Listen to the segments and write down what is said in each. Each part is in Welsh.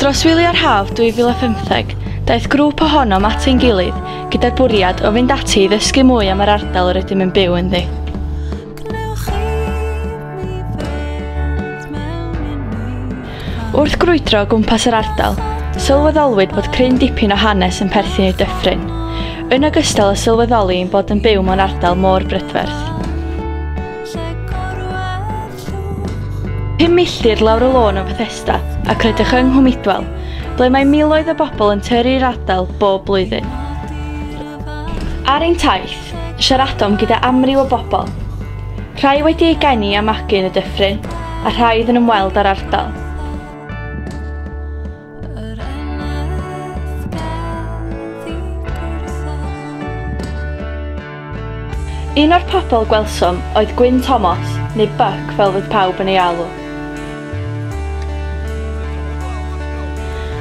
Dros wyliau'r haf 2015, daeth grŵp ohonom at ein gilydd gyda'r bwriad o fynd ati i ddysgu mwy am yr ardal yr ydym yn byw ynddi. Wrth grwydro o gwmpas yr ardal, sylweddolwyd bod cryn dipyn o hanes yn perthyn i'r dyffryn, yn ogystal â sylweddoli ein bod yn byw mewn ardal mor brydferth. Pum milltir lawr y lôn o Fethesda ac rydych yng Nghwmidwell, ble mae miloedd o bobl yn tyrru i'r ardal bob blwyddyn. Ar ein taith, Siaradom gyda amryw o bobl. Rhai wedi eu geni a magu yn y dyffryn, a rhai oedd yn ymweld â'r ardal. Un o'r pobl gwelsom oedd Gwyn Tomos, neu Buck fel fydd pawb yn ei alw.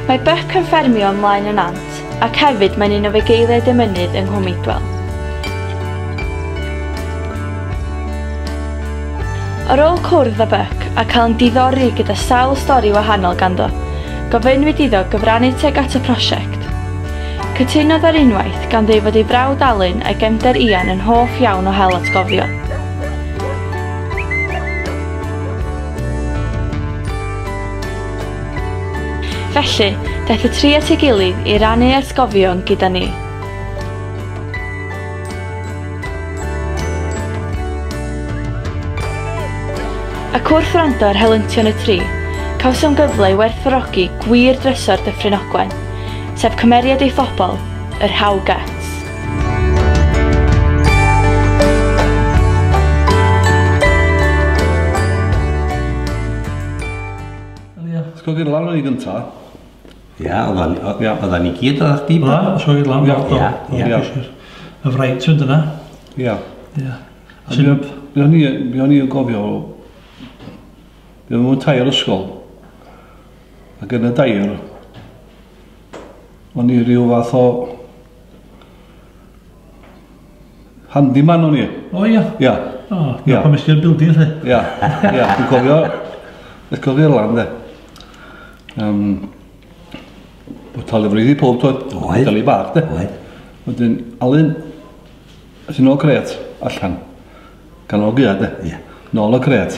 Mae Buck yn ffermio ymlaen yn Ant, Ac hefyd mae'n un o fugeiliaid y mynydd yng Nghwm Idwal. Ar ôl cwrdd â Buck a cael yn diddori gyda sawl stori wahanol ganddo, gofynnwyd iddo gyfrannu tuag at y prosiect. Cytunodd ar unwaith, gan ddweud fod ei frawd Alun a'i gefnder Ian yn hoff iawn o hel atgofion. Felly, daeth y tri at ei gilydd i rannu atgofion gyda ni. Ac wrth wrando ar helyntion y tri, cawsom gyfle i werthfawrogi gwir drysor Dyffryn Ogwen, sef cymeriad ei phobl, yr How Guts. Wel ia, sgog i'r lan o'n i gynta. Ia, oedda ni gyd oedda chdi. Oedda, sgog i'r lan. Ia, ia. Ia, ia. Y fraint fynd yna. Ia. Ia. Be o'n i, be o'n i yn gofio, be o'n i'n tair ysgol, ac yn y dair, o'n i rhyw fath o Handyman o'n i. O ia? Ia. O, ia. Pan ysdi'r building lle. Ia, ia. Dwi'n cofio, dwi'n cofio lan de. Um, o talu fryd i pob toed. Oed. Talu bach de. Oed. Wedyn, Alun, sy'n ôl cret, allan. Gan o gyda de. Ia. Nôl o cret.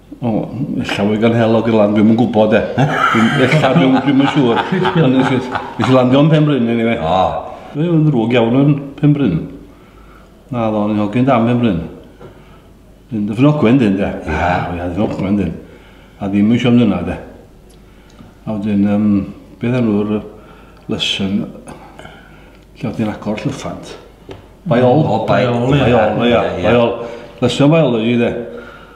O, ella fwy gan hel o gylan, dwi'n yn gwybod e. Ella, dwi'n yn siŵr. Nes i landio yn Penbryn, anyway. O. Dwi'n yn ddrwg iawn yn Penbryn. Na, ddo, ni'n hogyn dan Penbryn. Dwi'n dy ffynogwen dyn, de. Ia. Ia, dy ffynogwen dyn. A ddim yn siom dyna, de. A wedyn, um, beth enw'r lesson lle oedd ti'n agor llyffant? Baiol. O, baiol, ia. Baiol, ia. Baiol. Lesson biology, de.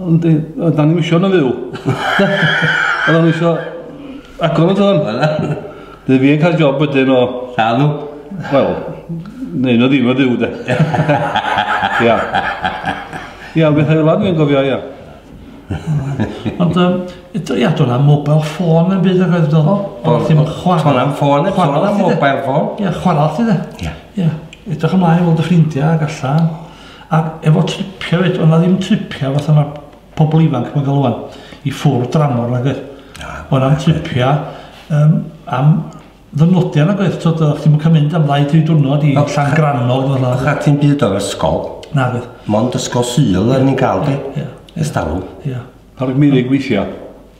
Ond e, o, da ni'n eisiau yn y fyw. Ond o'n eisiau agor yn tron. Dwi fi yn cael job wedyn o... Llanw? Wel, neu na ddim o ddiw de. Ia. Ia, beth hefyd lan dwi'n gofio, ia. Ond, ia, dwi'n am mobile ffôn yn byd ag oedd dod. Ond ti'n chwarae. Dwi'n am ffôn, dwi'n am mobile ffôn. Ia, chwarae ti de. Ia. Ia. Edrych ymlaen i fod y ffrindiau ac allan. Ac efo tripia fyd, oedd na ddim tripia fatha mae pobl ifanc mae'n cael o'n i ffwrdd dramor nag oedd. Oedd na'n tripia um, am ddynodiau nag oedd, tyd, oedd chdi'n cael mynd am ddau dri diwrnod i llan grannog. Oedd na ti'n byd o'r ysgol? Na oedd. Mond ysgol syl oedd ni'n cael di, ystalw. Ie. Ar y gmynig weithiau?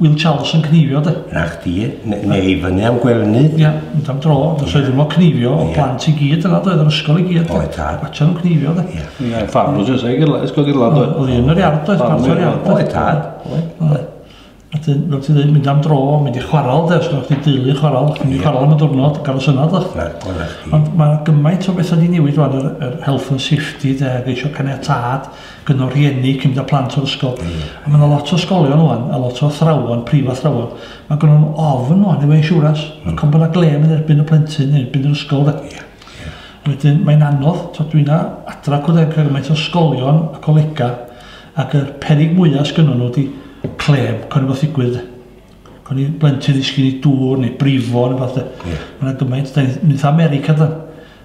Wil Charles yn cneifio de. Na chdi, ne- neu i fyny am Gwerney. Ia, mynd am dro, os oedden nhw'n cneifio, o plant i gyd yna doedd, yr ysgol i gyd. de. Oedd, tad. Watsian nhw'n cneifio de. Ia. Ia, ffarmwrs yn seg i'r ysgol i'r lad oedd. Oedd un yr iard oedd, Ffarmwr, parto'r iard oedd. Oedd, tad. Oedd. Oedd. A dyn, fel ti'n dweud, mynd am dro, mynd i chwarael de, os gynnwch chi deulu chwarael, chi'n mynd i chwarael am y diwrnod, gael y synod o'ch. Na, oedd na chdi. Ond mae gymaint o bethau wedi newid rwan, yr, yr health and safety de, geisio caniatad gyn o rhieni, cyn mynd â plant o'r ysgol. Mm. A mae yna lot o ysgolion o'n, a lot o thrawon, prif athrawon, mae gynnon nhw ofn o'n efo insiwrans. Mm. Ac ond bod yna glem yn erbyn y plentyn, yn erbyn yr ysgol. Da. Yeah. Yeah. Wedyn, mae'n anodd, to dwi'n na adra cwrdd ag gymaint o ysgolion a colega, ac y perig mwyaf sgynnon nhw di clem, cyn efo ddigwydd. Cyn i blentyn ddisgyn i dŵr neu brifo neu fath. Yeah. Mae'n gymaint, da ni'n mynd America da.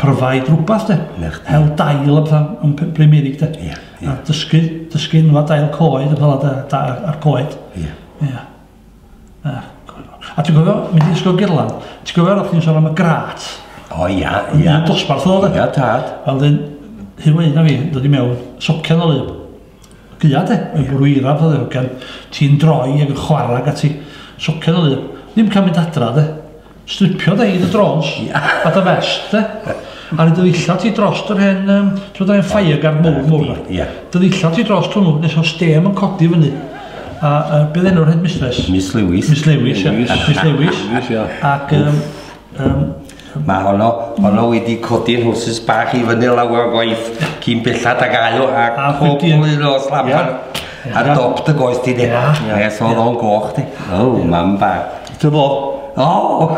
provide rhywbeth de. Ia. Hel dail a pethau yn P- Prymeurig de. Ia, ia. A dysgu, dysgu enwa dail coed a pethau da, da, a'r coed. Ia. Ia. A, a ti'n gofio, mynd i ysgol Gerlan, ti'n gofio roedd chdi'n sôn am y grat? O ia, Yn ia. un dosbarth oedd o de. Ia, tad. A wedyn, Huw Wyn a fi, yn dod i mewn, socian o lyb. Gwya de, mae'n bwrw eira fatha ddewrgen, ti'n droi ag yn chwarae ag ati. Socian o lun. Ddim cael mynd adra de. Stripio de, yn y drôns. A dy fest de. A rhoi dy ddillad ti drost yr hen, yym, t'mod yr hen fire guard mowr mowr 'ma? Ia. Dy ddillad ti drost hwnnw nes o'dd stêm yn codi fyny. A yy be' o'dd enw'r headmistress? Miss Lewis. Miss Lewis ia. Miss Lewis. Miss Lewis ia. Ac yym yym Mae honno, honno wedi codi'n hwsys bach i fyny lawer o gwaith cyn bellad ag ail a pob un o slammer a dop dy goes di de. Nes oedd o'n goch di. O, mam ba. Dy fo? O!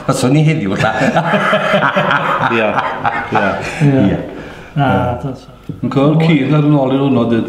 Mae swn i heddiw ta. Ia, ia. Ia. Na, dwi'n... Yn cael cyd ar yn ôl i hwnnw dyd.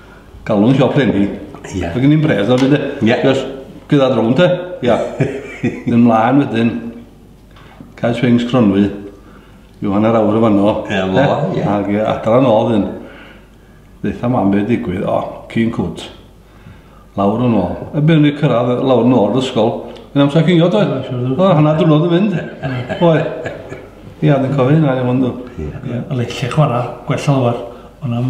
Galwn siop len hi. Ie. Ac yn i'n bredd o fyd e. Ie. Just gyda drwm te. Ia. Yn mlaen wedyn. Cael swings cronwy. Yw hanner awr o fanno. Ia, fo, ia. Ac adra yn ôl yn. Ddeitha mam beth digwydd. O, cyn cwt. Lawr yn ôl. Y byn ni cyrraedd lawr yn ôl ysgol. Yn amser cynio, dwi. O, hanner dwrnod yn mynd. Oe. Ia, dwi'n cofio hynna, iawn dwi. Ia. Leitlle chwarae, gwella lawr. Ond am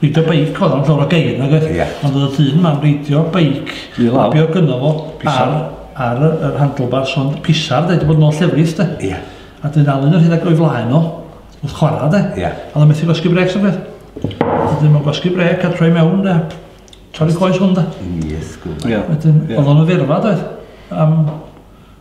Ridio beic oedd o'n llofra geir nag oedd? Ia. Ond oedd y dyn yma'n reidio beic. I lawr. Be oedd gynno fo? Pisar. Ar, ar y, yr handlebars ond pisar de, wedi bod yn ôl llefrith de. Ia. A dyn alun yr hyn ag o'i flaen o, wrth chwarae de. Ia. A oedd o'n methu gwasgu brec sy'n beth. A dyn mae'n gwasgu brec a troi mewn de. Torri coes hwn de. Yn iesgwb. Ia. Wedyn, oedd o'n yfyrfa doedd. Am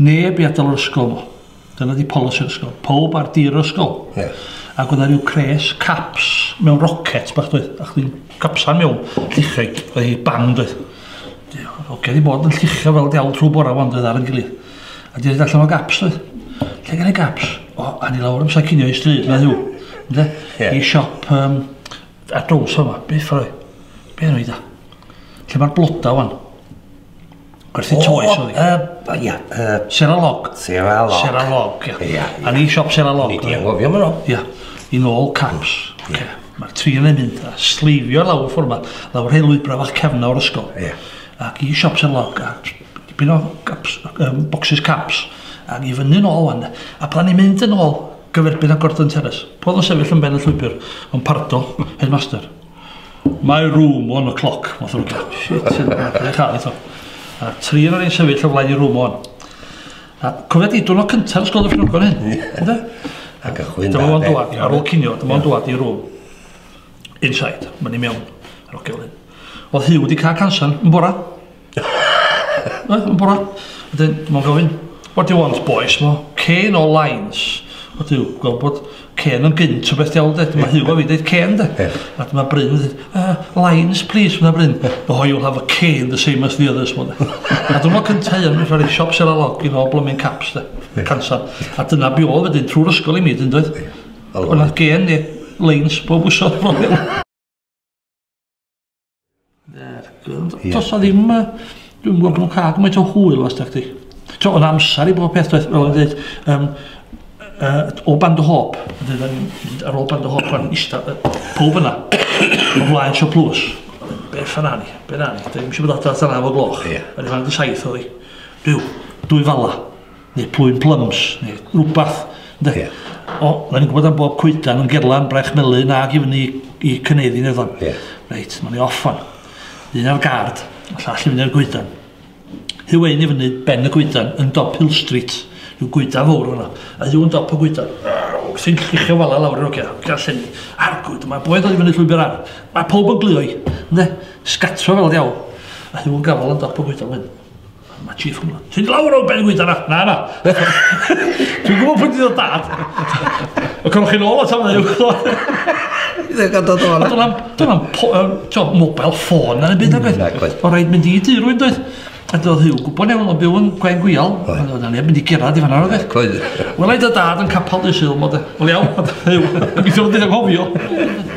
Neb i adal yr ysgol ddo. Dyna di polisi yr ysgol. Powb ar dir yr ysgol. Ie. Ac oedd 'na ryw cres caps mewn rocet bach doedd. A chdi'n capsan mewn llichau. Oedd hi bang doedd. Di- Hogia di bod yn llichio fel diawl trwy bora wan doedd ar yn gilydd. A di rhaid allan o gaps doedd. Lle gen i gaps? O, a ni lawr amser cinio i stryd na ddiw. Ynde? Ie. I siop um, ar drawsa yma. Beth oedd? Be oedd da? Lle mae'r bloda wan? Gwerthu toes oedd hi? O, yy, ia, yy... Seralog. Seralog. Seralog, ia. Ia, ia. Yn ei siop Seralog. Ni di anghofio fo. Ia, yn ôl caps. Mm, ia. Mae'r tri yn ei mynd a sleifio lawr ffordd yma, lawr hel lwybra fach cefna o'r ysgol. Ia. Ac i siop Seralog, a dipyn o caps, um, boxes caps, ac i fyny yn ôl wan. A pan ni'n mynd yn ôl, gyferbyn â Gordon Terrace, podd yn sefyll yn ben y llwybr, yn pardo, headmaster. My room, one o'clock, math o rwbeth. Shit, sy'n edrych ar eto. A tri yn o'n sefyll o flaen i room on. A cofio di, dwi'n o cyntaf yn sgol y ffrwgon hyn. Ydw. A gychwyn da. Dyma fo'n dwad, ar ôl cinio, dyma fo'n dwad i room. Inside, mae'n i mewn. Ar ôl gylun. Oedd Hugh wedi cael cansan yn bora. Mae'n bora. Wedyn, mae'n gofyn, what do you want boys? Mo, cane or lines? O diw, gweld bod cane yn gynt o beth diawl de. Dyma yeah. Huw a fi dweud cane de. Yeah. A dyma Bryn yn dweud, uh, lines please, fyna Bryn. No, oh, you'll have a cane the same as the others. Mo, a dyma cyntau yn rhaid i siop sel a log i nôl blooming caps de. Yeah. Cansan. A dyna bi oedd wedyn trwy'r ysgol i mi, dyn dweud. Yeah. Ond gen ni lines bob wsod. Does na ddim, dwi'n gwybod bod nhw'n cael gymaint o hwyl os da chdi. Ti'n o'n amser i bob peth, doedd, fel o'n dweud, um, uh, o band o hop, ar ôl band o hop, pan eista, pob yna, o flaen sio plws. Beth yna ni, beth yna ni, da ni'n eisiau bod adra tan af o gloch. Ie. Yn y fan di saith oedd hi. Rhyw, dwy fala. neu plwyn plums, neu rhywbeth, ynde? Ie. O, na ni'n gwybod am bob coedan yn gerlan brech melyn ag i fyny i cyneddi neddon. Ie. Reit, mae'n ei off fan. Un ar gard, a llall i fyny ar goedan. Hyw ein i fyny ben y goedan yn dop Hill Street, rhyw goedan fawr yna. A hyw yn dop y goedan, wrthi'n llichio fala lawr i'r ogia, gallen ni, argwyd, mae boed oedd i fyny llwybr ar. Mae pob yn glio i, ynde? Sgatro fel diawl. A hyw yn gafel yn dop y goedan wedyn. Mae chief yn gwybod. Ti'n lawr o ben gwyta na? Na, na. Dwi'n gwybod pwy ti'n dod dad. Y cwrwch chi'n ôl o tam yw. Dwi'n gan dod o'n. Dwi'n am, dwi'n am, ti'n mobile ffôn na byd agwedd. Mm, o rhaid mynd i dy rwy'n dweud. A doedd hi'n gwybod neu o'n byw yn gwen gwial. Oedd o'n mynd i gerad i fanna. Wel, ei dy dad yn capal dy syl, mod e. Wel iawn, oedd hi'n gwybod. Dwi'n gwybod, dwi'n gwybod.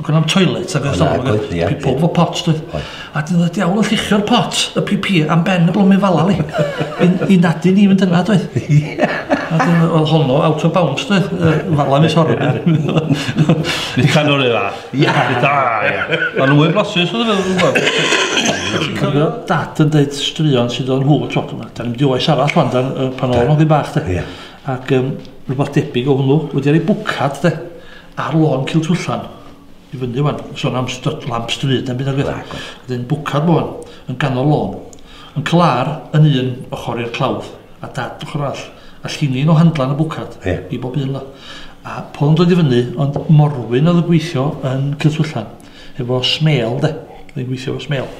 Gwna am toilet ac ystod o beth. Ie. Pob fo pot, dwi. Oedd. A dyn oedd y diawl yn llichio'r pot, y pipi, am ben y blomyn fala li. I nadu ni fynd yna, dwi. Ie. A dyn oedd honno out of bounds, dwi. Fala mi sorry. Ni can o'r un fath. Ie. Da, ie. Ond nhw'n mwy blasus oedd yn meddwl. Cofio dad yn dweud straeon sydd o'n hwyl tro. Da ni'n mynd i oes arall wan, pan oedd o'n ddim bach, dwi. Ie. Ac um, rhywbeth debyg o hwnnw, wedi ar ei bwcad, dwi. Ar lôn Ciltwllan, i fyny wan, son am styd lamp stryd na'm byd nagwedd. Nagwedd. Wedyn bwcad lôn, yn ganol lôn. Uncle Ar yn un ochor i'r clawdd, a Dad ochor arall. A llinin o handlan y bwcad. Ie. I bob un 'la. A pol yn dod i fyny, ond morwyn oedd yn gweithio yn Ciltwllan, efo smêl de. Oedd hi'n gweithio efo smêl.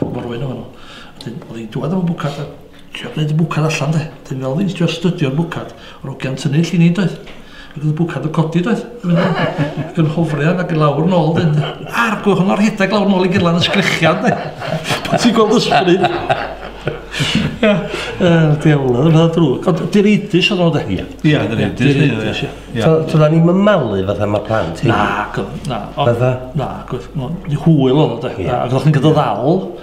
Morwyn oedden nhw. Wedyn oedd hi'n dwad efo bwcad a Trio gwneud y bwcad allan de. Dyn fel fi'n trio stydio'r bwcad. Yr ogia'n tynnu llun i doedd. Ac oedd y bwcad yn codi doedd. Ac yn hofrian ac yn lawr yn ôl dyn. A'r gwch yn o'r rhedeg lawr yn ôl i gyrlan y sgrechian de. Pan ti'n gweld ysbryd. Ia. Yr diawl oedd yn drwg. Ond dy'r eidus oedd o de. Ia. Ia, dy'r eidus. Ia. Dyna ni'n mymalu fatha mae plant. Na, na. Fatha? Na, hwyl oedd o de. Ac oedd chi'n gyda ddal.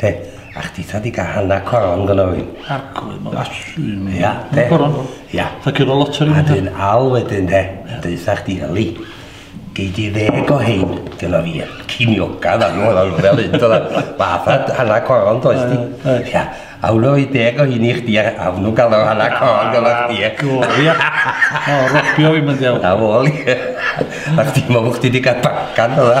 Te, a chdi ta di gael hanna coron gyda fi. Arglwydd, mae'n asu mi. Ia, te. Coron. Ia. Ta cyrra lot ar un. A dyn al wedyn, te. Deitha chdi, Eli. Gei di ddeg o hyn gyda fi. Cinioga, dda nhw, dda nhw fel hyn. Fatha hanna coron, does di. Ia. A hwnnw i deg o hyn i chdi, a hwnnw gael o hanna coron gyda chdi. Ia. O, rogio fi mynd iawn. A fol i. A chdi, mae chdi di gael bacan, dda.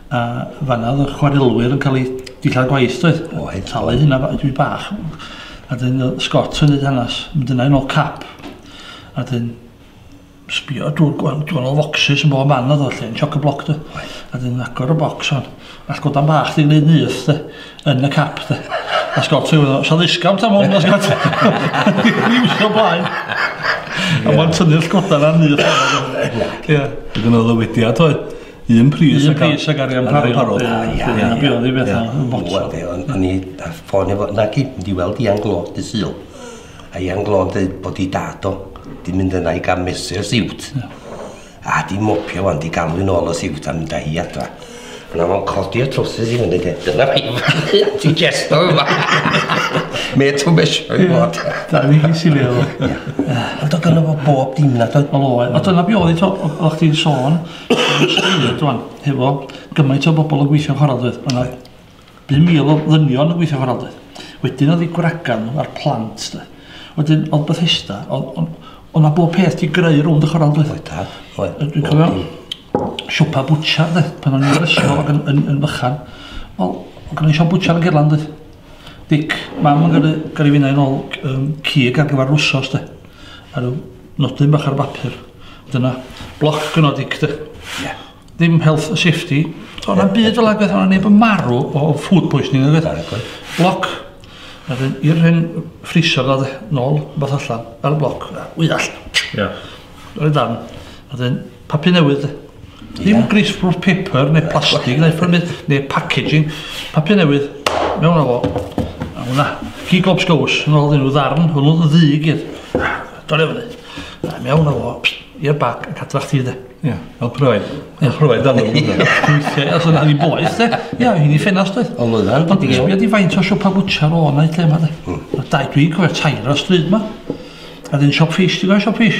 A fanna oedd y chwarelwyr yn cael eu dillad gwaith doedd? O, hyn. Talu hynna ba- dwi bach. A dyn Scott yn neud hanes. Mynd yna yn ôl cap. A dyn sbio drwy'r gwahanol o focsys yn bob man oedd o lle yn choc y bloc dy. A dyn agor y bocs o'n. All godan bach di wneud nyth dy. Yn y cap dy. A Scott yn gwneud, sa ddisgawnt am hwn, a Scott. Ddim so blaen. A mae'n tynnu'r godan ar nyth. Ie. Dwi'n gwneud o wedi oedd. Un pris ag pris ag arian parod parod. Ia, be oedd i beth yn botol. O'n i a ffôn efo, na gyd, mynd i weld Ian Glo, dy syl. A Ian Glo yn dweud bod i dad o, di mynd yna i gael mesur siwt. A di mopio wan, di galw yn ôl o siwt a mynd â hi adra. Yna fo'n codi y trwsus i fyny, dyna fi yma, ti gesto yma. Me to measure i fod. Da ni chi sy'n leol. Ond oedd gynnu fo bob dim na, oedd? Oedd, oedd dyna biodd i to, oedd chdi'n sôn, Rwan, hefo gymaint o bobl yn gweithio chwarae doedd, mae yna 5,000 o ddynion yn gweithio chwarae doedd. Wedyn oedd ei gwragan nhw a'r plant doedd. Wedyn oedd Bethesda, oedd yna bob peth di greu rownd y chwarae doedd. Oedd, oedd. Dwi'n cofio siopa bwtsiar doedd, pan o'n i'n ysgol ac yn, yn, yn fychan. Wel, oedd gen i siop bwtsiar yn Gerland doedd. Dic, mam yn gyrru, gyrru finnau yn ôl um, cig ar gyfer rwsos doedd. A rhyw Nodyn bach ar bapur. Dyna bloc gynodig de. Yeah. Ddim health and safety. Ond am byd fel agwedd o'n neb yn marw o food poisoning ag oedd. Bloc. Wedyn i'r hen ffriser dda de. Nol, beth allan. Ar y bloc. Wyall. Ie. Yeah. Rhaid dan. Wedyn Papur newydd. Dim greaseproof paper neu plastig neu ffyrmydd neu packaging. Papur newydd. Mewn â fo. A hwnna. Cig lobs gows. Yn ôl nhw ddarn. Hwnnw yn ddu i gyd. Dole fyny. A mewn â fo. I'r bag. Yn cadwach ti de. Ia. Fel proed. Fel proed fel nhw. Weithiau. Os yna ni boeth de. Ia. Hyn i ffenast oedd. Ond oedd hyn. Ond sbio di faint o siopa bwtcher o yna i lle yma de. Hmm. Dau dwi'n cofio tair o stryd yma. A dyn siop ffis. Ti'n gwneud siop ffis?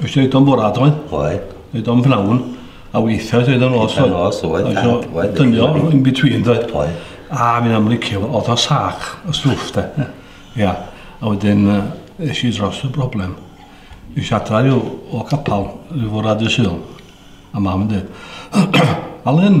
Oes oedd o'n bwrad oedd? Oedd. Oedd o'n bnawn. A weithiau oedd o'n os oedd. Oedd oedd. Oedd oedd. Dynio in between oedd. Oedd. A mi'n amlycio oedd o sac y stwff de. Ia. A wedyn eisiau i dros y broblem. Eisiau adra rhyw o capal rhyw fwrad y syl. A mam yn dweud. Alun.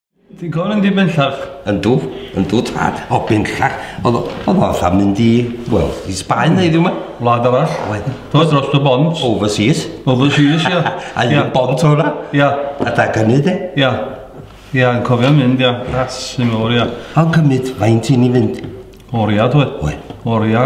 Ti'n cofio'n mynd i bellach? Yndw, yndw tad, o bellach. Oedd o, oedd o fatha mynd i, wel, i Sbaen neu ddim yma. Wlad arall. Oedd. Oedd dros y bont. Overseas. Overseas, ia. A un y bont o'na. Ia. A da gynnu, de. Ia. Ia, yn cofio'n mynd, ia. Ras yn fawr, ia. A'n cymryd, faint i ni fynd? Oria, dwi. Oedd. Oria.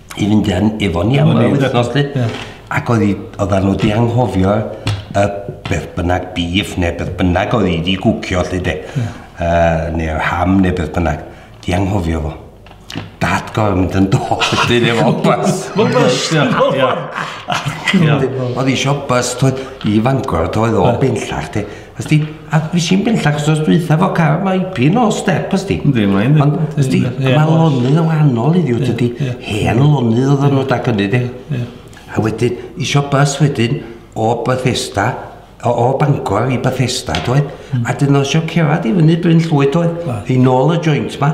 i fynd yn efo ni am yr wythnos di. Ac oedd hi, oedd nhw di anghofio y beth bynnag bif neu beth bynnag oedd hi di gwcio lli de. Uh, neu ham neu beth bynnag. Di anghofio fo. Dad gorau mynd yn dod ydyn efo bus. Fo bus, ia. Oedd hi eisiau bus, i fangor, oedd o bellach de. Ysdi? A nes i'n bellach wsos dwytha fo cael mae pin o step ysdi. Yndi, mae yndi. Ond ysdi, Ie, mae oes. lonydd yn wahanol i ddiw, dydy ie. hen lonydd oedd nhw da gynnu di. Ie. A wedyn, isio bus wedyn o Bethesda, o, o Bangor i Bethesda, doedd? A dyn nhw isio cerad i fyny Bryn Llwyd, doedd? Oes. I nôl y joint ma.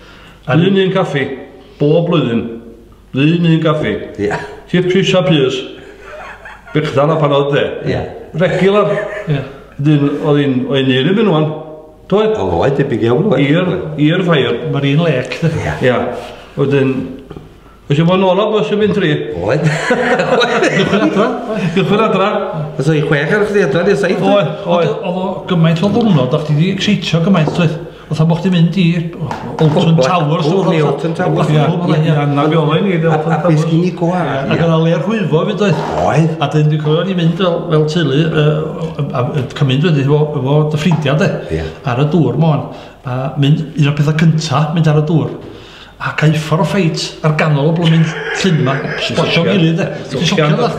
Ar un un caffi, bob blwyddyn, un un caffi. Ie. Tip fish a pys. Bechdal a parod de. Ie. Regular. Ie. Dyn, oedd un, oedd un i'r un o'n. Doedd? O, oedd, debyg iawn, oedd. I'r, i'r ffair. Mae'r un lec. Ie. Ie. Oedd un, Oes yma nôl o bus yn mynd tri? Oed. Gychwyn adra. Gychwyn adra. Os o'i chwech ar chdi adra, di'r saith. Oed, oed. Oedd o gymaint o ddwrnod, o'ch ti di exeitio gymaint, oedd. Oedd o'ch ti'n mynd i Olton Towers. Oedd ni Olton Towers. Ia, ia, na fi oedd ni. A beth gyn i gwa. Ac oedd o le'r hwyfo fyd oedd. Oed. A dyn dwi'n cofio ni'n mynd fel teulu, a cymryd wedi efo dy ffrindiau de, ar y dŵr mon. A mynd, un o'r pethau cyntaf, mynd ar y dŵr. Ac a'i ffordd ffeit ar ganol y blwmin llyn yma, sblotio'n gilydd de. Ti'n socio'n dda.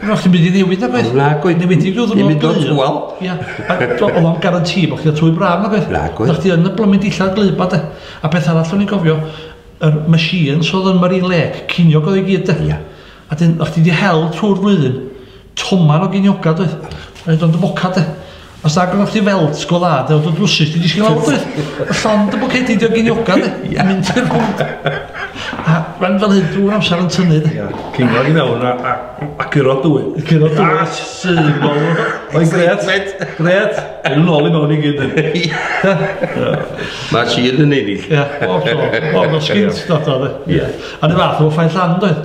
Wel, chdi'n mynd i newid na gwaith. Na gwaith. Neu wedi rhyw ddwrnod glir. Neu tŵal. Ia. Ac oedd o'n garantî bod chdi'n twy braf na gwaith. Na gwaith. Oedd chdi yn y blwmin dillad glir ba de. A peth arall o'n i'n gofio, yr machines oedd yn Marine Lake, ciniog oedd i gyd de. Ia. A dyn, o'ch chdi di hel trwy'r flwyddyn, toman o ginioga doedd, yn dod yn foca de. Os na gynnwch chdi felt sgol dda, de, oedd y drwsus di disgyn lawr doedd. Y llond y bwcedi di o ginioga de, yn mynd i'r rhwnd. A rhan fel hyn drwy'r amser yn tynnu de. Cingog i mewn a, a, a curo dwy. Curo dwy. A sy'n bol. O'i gret, gret. Yn ôl i mewn i gyd. Mae sy'n yn ennill. Ie, o, o, o, o, sgint, dod o de. Ie. Yn y fath efo Ffair Llan doedd?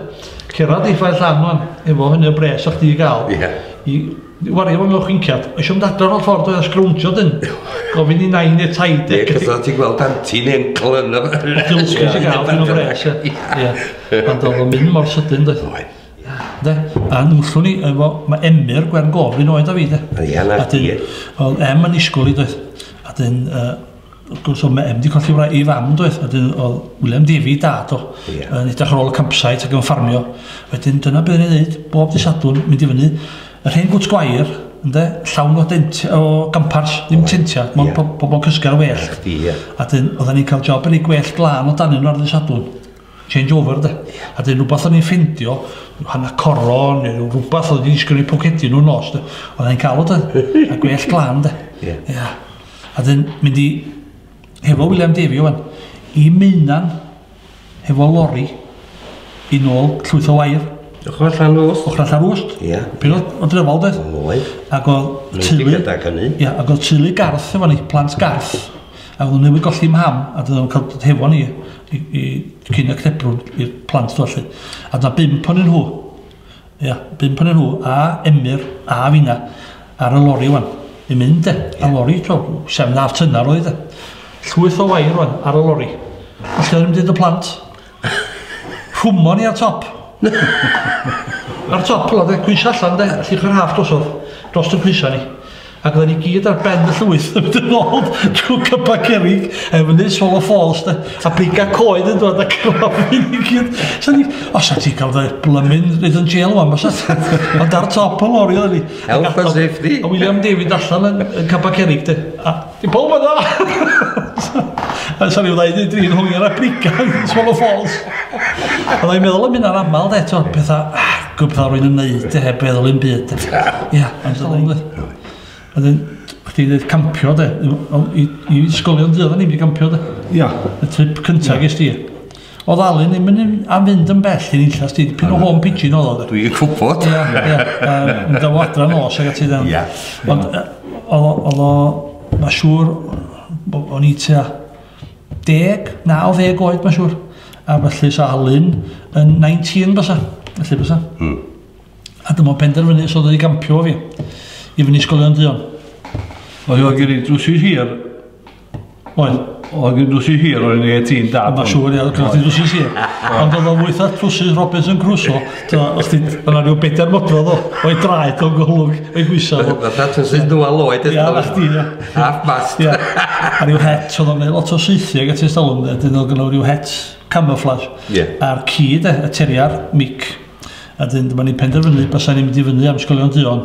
Cerdded i Ffair Llan wan efo hynny o bres o'ch chdi i gael yeah. i wario fo mewn chwinciad. Eisiau mynd adref o'r ffordd oedd a sgrowntio dyn. Gofyn i nain neu taid. Ie, yeah, cos ti'n gweld anti neu encl yn y... Dilsgwys i gael dyn o bres. Ie, ond oedd o'n mynd mor sydyn doedd. Oedd. De, a nwllwn ni efo, mae Emyr Gwern Gofyn oed a fi de. Ie, na, ie. Oedd Em yn isgol i doedd. A dyn, uh, Wrth gwrs oedd Meb 'di colli wraig ei fam doedd, a 'dyn oedd William Davey, dad o, Ie. yn edrych ar ôl y campsite ac yn ffarmio. Wedyn dyna be' o'n i'n neud bob dydd Sadwrn, mynd i fyny yr hen gwt gwair, ynde, llawn o dent o gampars, ddim Oedd. tentia, mond Ie. po- pobl yn cysgu ar y wêllt. Chdi, ie. A 'dyn oeddan ni'n cael job yn rhoi gwellt glân o danyn nhw ar ddydd Sadwrn. Change over, 'de. A 'dyn rhywbeth o'n i'n ffeindio, rhyw hanner coron neu rhyw rwbath oedd wedi disgyn o'u pocedi nhw nos, 'de. Oeddan ni'n cael o doedd? A gwellt glân, 'de. Ie. Ia. A dyn mynd i, hefo William Davey o'n, i Meunan, hefo lori, i nôl llwyth o wair. Ochr allan rwst. Ochr allan rwst. Ia. Pyn o drefol, dweud. Oedd. Ac oedd teulu... Nid gyda hynny. Ia, ac oedd teulu garth efo ni, plant garth. Ac oedd newid golli mham, a dyn nhw'n cael dod hefo ni, i, i cyn y cnebrwn, i'r plant dweud. A dyna bimp o'n nhw. Ia, bump ohonyn nhw, a Emyr, a finna, ar y lori wan, yn mynd de, yeah. a lori, to, sef na tynar oedd de. Llwyth o wair wan, ar y lori. A lle oedd yn y plant? Rhwmon ni ar top. ar top, la de, gwys allan de, llych yr haf drosodd, dros y gwysau ni. Ac oedden ni gyd ar ben y llwyth yn mynd yn ôl trwy cypa cerig, a efo neud solo falls, de, a beiga coed yn dod a cyrraedd i ni gyd. So ni, os a ti cael dy blymun rhaid yn jail o'n bas, ond ar top y lori oedden ni. Health and safety. A William David allan yn, yn cypa cerig, de. A, i pob yna! A sa'n rhyw ddaid i drin hwyr a briga yn solo falls. A ddai'n meddwl am hynna'n aml, de, to, pethau, ah, Gwybod rwy'n ymwneud e heb feddwl un byd. Ie, yn ddiddorol de. Wedyn, chdi ddeud campio de, i, i ysgolion di oedden ni'n mynd campio de. Ia. Y trip cyntaf yeah. ges di. O ddalun ddim yn am fynd yn bell i'n illas di, pyn o home pigeon oedd o de. Dwi'n gwybod. Ia, ia. Yn daw adra nos ag ati dden. Ia. Ond oedd o, mae siŵr, o'n i tua 80, 90 oed mae'n siŵr. A felly sa Alun yn 19 bysa, felly bysa. Mm. A dyma penderfynu sydd wedi gampio fi i fyny ysgolion duon. Oedd oedd gen i drwsi hir. Oedd. Oedd gen i drwsi hir, oedd gen i ti'n dad. Mae'n siŵr, oedd gen i drwsi hir. Ond oedd o'n weitha trwsi Robinson Crusoe. So, os ti, yna rhyw bedair modrodd o, o'i draed o'n gwhlwg, o'i gwisau. Mae ddat yn sy'n dwa loed eto. Ia, na chdi, ia. Half mast. Ia. A rhyw het, oedd o'n neud lot o seithi ag at ei stalwm, dyn oedd gynnal rhyw het camouflage. Ie. A'r ci, de, y teriar, mic. A dyn, dyma ni penderfynu, basa ni'n mynd i fyny am sgolion duon.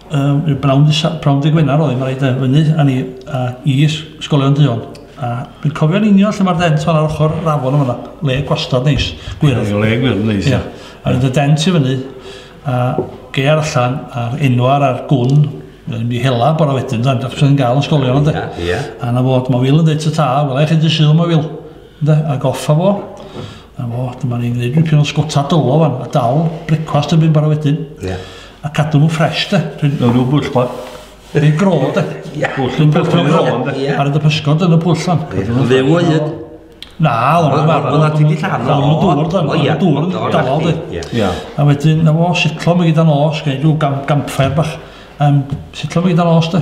Um, y brawn, brawn dy Gwener oedd, mae'n rhaid fyny, a ni, a i ysgolion duon. A dwi'n cofio'n union lle mae'r dent fan ar ochr rafon yma, le gwastad neis, gwyrdd. Le gwyrdd neis. Ia. A rydyn y dent i fyny, a geir allan, a'r enwar a'r gwn, yn mi hela bora wedyn, dan, dach chi'n gael ysgolion ynddo. Ia, ia. A na fod, mae Wil yn dweud ta ta, wel eich chi di syl, mae Wil. Ynde, a goffa fo. A fo, dyma ni'n gwneud rhywbeth o'n sgota dylo fan, a dal brecwast yn mynd bara wedyn. Ie. A cadw nhw'n ffres, de. Dwi'n mewn rhyw bwll bod. Rhyw gro, de. Ie. Bwll yn bwll yn gro, de. Ie. Ar y pysgod yn y pwll fan. Fyw o hyd. Na, o'n nhw'n farw. O'n nhw'n lladd. O'n nhw'n dŵr, de. O, ie. Dŵr yn dawel, de. Ie. A wedyn, na fo, sitlo mi gyda nos, gwneud rhyw gamffair bach. Um, sitlo mi gyda nos, de.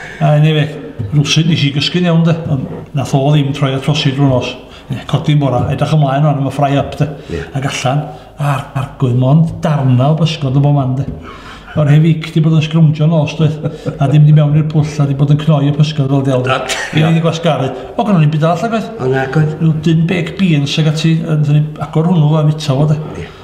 A eniwe, rywsut nes i gysgu'n iawn de, ond nath o ddim troi at trosi drwy'r nos. Ie, codi'n bora, edrych ymlaen rwan am y fry up de. Ie. Ac allan, a'r arglwydd mond darna o bysgod yn bo man de. O'r hen fic di bod yn sgrwmjo nos doedd, a di mynd i mewn i'r pwll a di bod yn cnoi y pysgod fel del de. Ac, ia. Gei di gwasgaru. O, gynnon ni'm byd arall nagoedd? O, nagoedd. Rhyw dyn beg beans ag ati, a nathon ni agor hwnnw a fita fo de. Ie.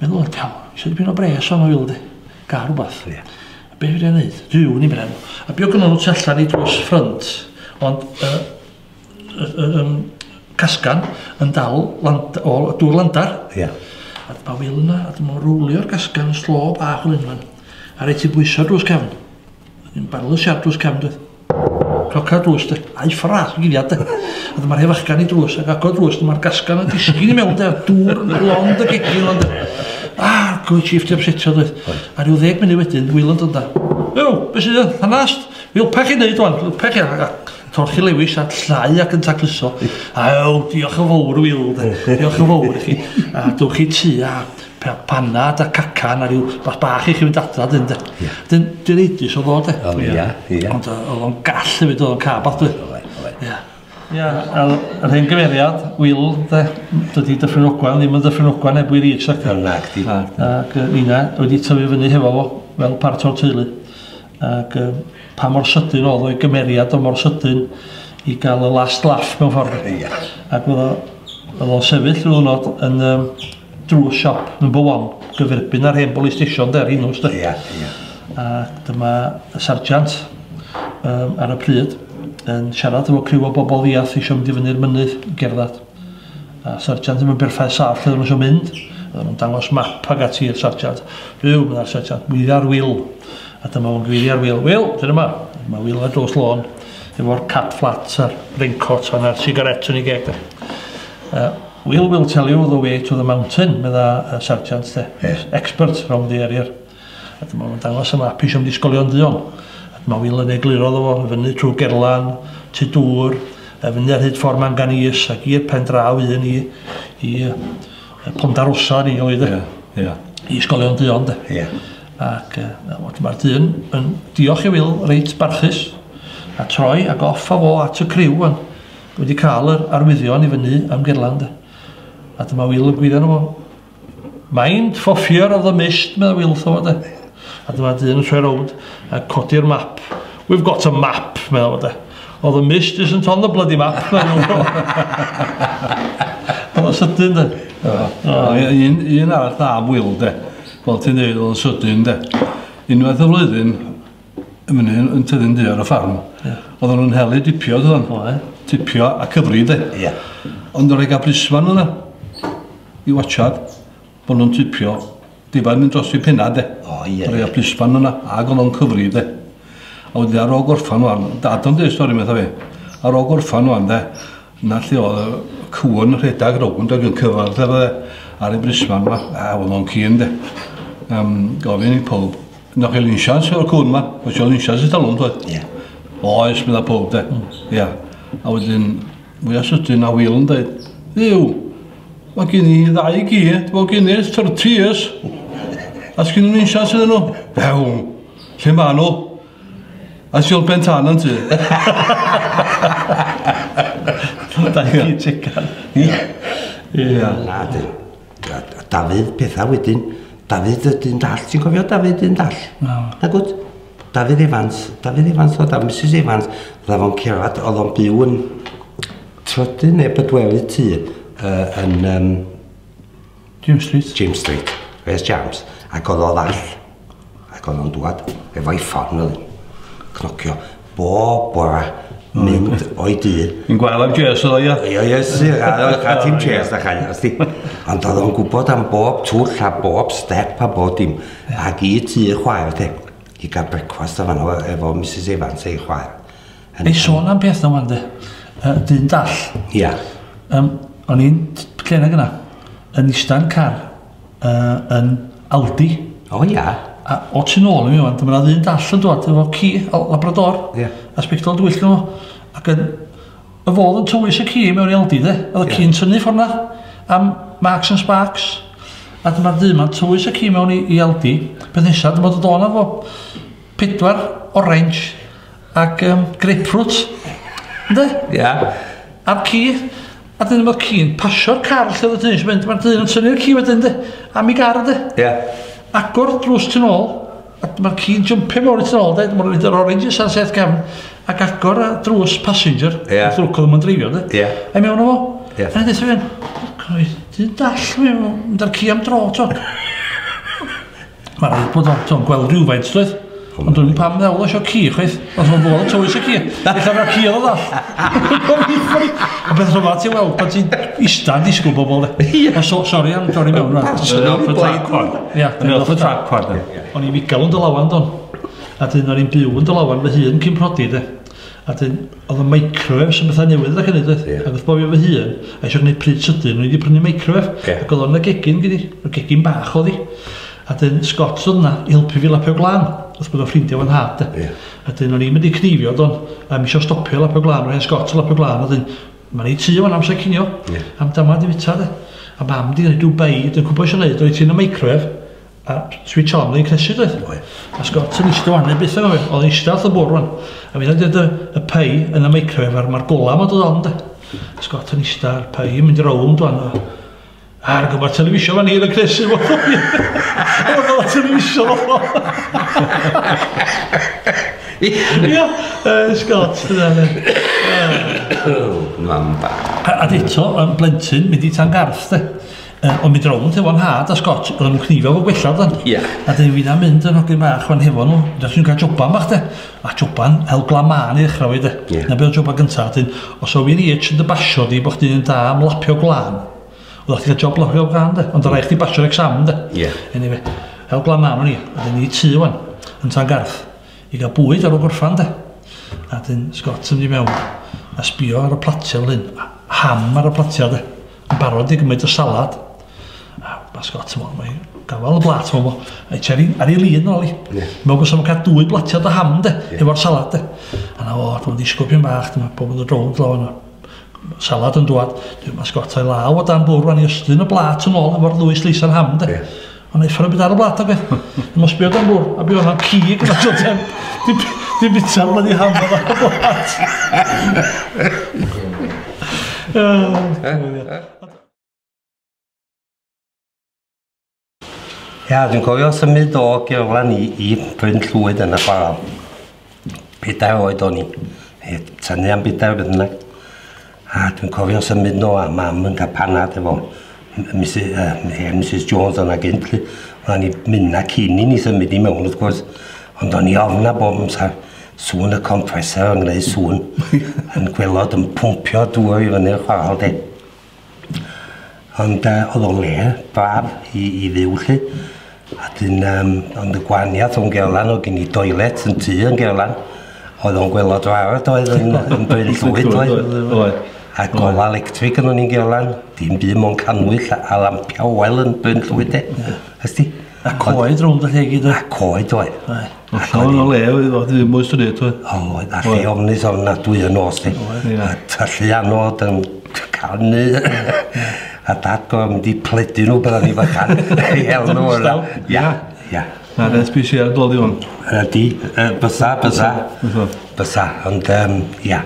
Meddwl o'r cawl. Eisiau dipyn o bres o'n oil di. Gael rhywbeth. Ie. A be fi'n ei wneud? Dyw ni bren. A bio gynnu nhw tu allan i drws ffrynt. Ond y, y, y, y, casgan yn dal land, o dŵr landar. Ie. A dyma wil yna, a dyma rwlio'r gasgan yn slo bach o unfan. A reit i bwyso drws cefn. Yn barlwr siarp drws cefn doedd. Cloca'r drws de, a'i ffrath yn giliad de. A dyma'r hef achgan i drws, ac agor drws, dyma'r gasgan yn disgyn i mewn de, a'r dŵr yn lond y gegin lond de. Ah, gwy chief di amsetio doedd. A rhyw ddeg munud wedyn, wyland ond da. Ew, beth sydd yn hanast? Wilpa chi wneud o'n, wilpa chi a torchi lewis a llnau ac yn tacluso. A ew, diolch yn fawr, Wil, diolch yn fawr i chi. A dwch i tu a Pe- panad a cacan a ryw bach bach i chi fynd adra dyn de. Ia. Dyn dwi reidus o fo de. O ia ia. Ond yy o'dd o'n gall hefyd o'dd o'n cae bach doedd? Oedd oedd. Ia. Ia a o'dd yr hen gyfeiriad Wil de m- dydi Dyffryn Ogwen ddim yn Ddyffryn Ogwen heb Wil Rees nacdi? Nacdi. Ac yy ninna wedi tyfu fyny hefo fo fel part o'r teulu. ac yy pa mor sydyn o'dd o'i gymeriad o mor sydyn i ga'l y last laugh mewn ffor. Ia. Ac o'dd o o'dd o'n sefyll ryw ddwrnod yn yym drws siop number one gyferbyn â'r hen bolis stesion 'de ar Rhinos 'de. Ia ia. A dyma y sarjant yym ar y pryd yn siarad efo criw o bobol ddiarth isio mynd i fyny'r mynydd i gerddad. A sarjant ddim yn berffaith saff lle oedden nhw eisiau mynd. Oedden nhw'n dangos map ag ati i'r sarjant. Rhyw, meddai'r sarjant, gweiddia'r Wil. A dyma fo'n gweiddia'r Wil. Wil, dyn yma. Mae Wil ar dros lôn efo'r cat flat a'r raincoat a'r cigaret yn ei geg. Uh, Wil, Wil, tell you the way to the mountain, medda y sarjant, de. Yes. Expert round the area. A dyma fo'n dangos y map eisiau mynd i Ysgolion Duon. A dyma Wil yn egluro iddo fo, i fyny trwy Gerlan, tu dŵr, a fyny ar hyd ffordd Manganese ac i'r pen draw un i, i uh, Ponda Rosa ni oedd e. Yeah, yeah. I Ysgolion Duon de. Yeah. Ac uh, dyma'r dyn yn diolch i Wil reit barchus a troi ac off a fo at y criw yn wedi cael yr arwyddion i fyny am Gerlan de. A dyma Wil yn gwyddo nhw Mind for fear of the mist, meddai Wil wrtho fo de. A dyma dyn yn troi rownd a codi'r map. We've got a map, meddai fo de. Oh, the mist isn't on the bloody map, meddai fo. Oedd o'n sydyn de. Un, un arall da am Wil de. Fel ti'n dweud, oedd o'n sydyn de. Unwaith y flwyddyn, y mynydd yn tyfu'n ddu ar y ffarm. Yeah. Oedden nhw'n helu dipio, dydyn? O, e. Tipio a cyfri, de? Ie. Yeah. Ond yr ega brisfan yna, i watchad, bod nhw'n tipio, difa'n mynd dros i penna, de? O, ie. Yeah. Yr ega brisfan yna, ag o'n cyfri, de? A wedi ar ôl gorffan o'n, dad o'n dweud stori metha fi, ar ôl gorffan o'n, de? Na lle oedd y cwn rhedeg rownd ag yn cyfan, de? Ar y brisfan yma, a o'n o'n cyn, de? Um, gofyn i pob Yna chi linsians o'r cwn ma, o sio linsians i talwm dweud. Ie. Oes, meddwl pob de. Mm. Ia. A wedyn, mwy a sydyn a Will yn dweud, ddiw, mae gen i ddau gi, mae gen i 30 years. A sgyn nhw'n insians iddyn nhw? Few, lle ma nhw? A siol ben tan yn ti. Da i ti tican. Ia. Ia. Na, dyn. A, a Dafydd, pethau wedyn, Dafydd y dyn dall, ti'n cofio Dafydd dyn dall? No. Na gwt? Dafydd Evans, Dafydd Evans oedd a Mrs Evans, dda fo'n cerad, oedd o'n byw yn trydydd neu bedwelu tu uh, yn um, James Street. James Street, Wes James, ac oedd o ddall. Ac o'n nhw'n dŵad efo'i ffon oedd cnocio bob bora mynd o'i dŷ. Yn gwael am jes oedd o, ia? Ia, ia, si, a ti'n jes na chael, os di. Ond oedd o'n gwybod am bob twll a bob step a bob dim. Ac i tu chwaer te, i gael brecwast o fanno efo Mrs Evans ei chwaer. Ei sôn am beth o'n de, dyn dall. Ia. Um, o'n i'n cenag yna, yn ista'n car, uh, yn Aldi. O ia? A o tu nôl i mi o'n, dyma ddyn dall yn dod efo ci, o labrador, yeah. a spectol dwyll nhw. Ac yn, y fodd yn tywys y ci mewn i Aldi, de? Oedd y yeah. ci'n tynnu ffordd na am Marks and Sparks. A dyma'r dyn ma'n tywys y ci mewn i, i Aldi. Peth nesaf, dyma dod o'n efo pedwar orange ac um, grapefruit, ynde? Ia. A'r ci, a dyn mae'r ci'n pasio'r car lle oedd y dyn eisiau mynd, mae'r dyn yn tynnu'r ci wedyn, ynde? Am i gar, ynde? Ia. Agor drws tu ôl, a mae'r ci'n jympio mewn i tu ôl, ynde? Mae'n rhaid yr orange sa'n seth gefn, ac agor y drws passenger, yeah. wrth lwc oedd yn dreifio, ynde? Ia. A'i mewn o fo. Ia. A'n dweud, dyn dall, mynd ar ci am dro, to. Mae'n rhaid bod o'n to gweld rhywfaint doedd. Ond dwi'n pam ddewlo eisiau ci, chweith. Os mae'n bod yn tywys y ci. Ella mae ci oedd all. A beth rhywbeth at i weld, pan ti'n istan disgwyl bobl. O, so, sori am dorri mewn. Dwi'n off y track hwn. Dwi'n off y track hwn. O'n i'n figal yn dylawan, don. A dyn o'n i'n byw yn dylawan fy hun cyn prodi, de. A wedyn, oedd y microwêfs yn bethau newydd ac yn ei dweud. Ac wrth bofi o fy hun, a eisiau gwneud pryd sydyn, o'n i wedi prynu microwêf. Yeah. Ac oedd o'n y gegin gyda ni, y gegin bach oedd hi. A dyn Scott oedd yna i helpu fi lapio glan, wrth bod o'n ffrindiau o'n had. Yeah. A dyn o'n i'n mynd i cnifio don, a mi eisiau stopio lapio glan, rhaid Scott lapio glan, a dyn, mae'n ei tu o'n amser cinio, yeah. am dama di fita de. A mam di yn ei Dubai, dyn cwbwys yn ei, dyn ti'n y microwêf, A switch on yn cnesu doedd? Oedd. A Scott yn eistedd wan, byth yn oedd, oedd eistedd all y bwr wan. A fi'n dweud y pei yn y microwave a'r mae'r gola yma dod on de. A Scott yn eistedd a'r pei yn mynd rownd wan. A'r gymryd televisio fan hyn yn cnesu fo. Oedd o'r televisio fo. Ia, Scott, dyna fe. Mam ba. A eto, yn blentyn, mynd i tan garth de. Uh, ond mi drowyd efo nhad a Scott, roedd nhw'n cnifio fo gwella dan. Ia. A dyn wyna mynd yn hogyn bach fan hefo nhw, dyn nhw'n cael joban bach de. A joban hel glaman i ddechrau fi de. Ia. Na beth o joban gyntaf, dyn, os o fi'n i eich yn dy basio di bod chdi'n da am lapio glan, oedd chdi cael job lapio glan de, ond rhaid chdi basio'r exam de. Ia. Anyway, hel glaman o'n i, a dyn ni tu wan, yn tan garth, i gael bwyd ar o gorffan de. A dyn Scott yn mynd i mewn, a sbio ar y platiau fel hyn, ham ar y platiau de. Yn barod i gymryd y salad. A bas got, ti'n mae gafael y blat, ti'n meddwl, ei cheri ar ei lun ôl i. Yeah. Mewn gwrs am cael dwy blatiad o ham, de, yeah. efo'r salad, de. A na fo, dwi'n ddisgwyl pyn bach, dyma pob yn y drownd law yna salad yn dwad, dwi'n masgotau law o dan bwrw fan i ystyn y blat yn ôl efo'r ddwy sleis ar ham, de. Yeah. Ond eith hwnna byd ar y blat ag e. Yn os byd am bwr, a byd o'n cig yn at o tem. Di bita'r blad i ham ar y blat. Ia, dwi'n cofio symud o Gerlan i, i Bryn Llwyd yn y chwarae. Pedair oed o'n i. Heb tynnu am bedair beth bynnag. A dwi'n cofio'n symud nhw a mam yn cael panad efo Mrs, uh, hen Mrs Jones o'na gynt. lly. O'n ni mynd a cyn i ni symud i mewn wrth gwrs. Ond o'n i ofn a bob amser sŵn y compressor yn gwneud sŵn yn gwelod yn pwmpio dŵr i fyny'r chwarel de. Ond yy o'dd o'n le braf i i fyw 'lly. A 'dyn yym ond y gwaniath o'n Gerlan o'dd gin i doilet yn tŷ yn Gerlan oedd o'n gwelod rarad oedd yn yn Bryn Llwyd oedd? Oedd oedd oedd. A gola electric gynnon ni yn Gerlan dim byd mond cannwyll a a lampia oel yn Bryn Llwyd de? Ia. Wsti? A coed rownd y lle gyd oedd? A coed oedd. Oedd llawn o le oedd oedd ddim oes yn neud oedd? O, oedd. A lle ofnus ofnadwy yn nos di. A tyllu anod yn canu. A dad go mynd i pledu nhw byddai ni bychan. Hel nhw yna. Ia, ia. Na, dweud bys i ar dod i hwn. Ydy, bysa, bysa. Bysa. Ond, ia.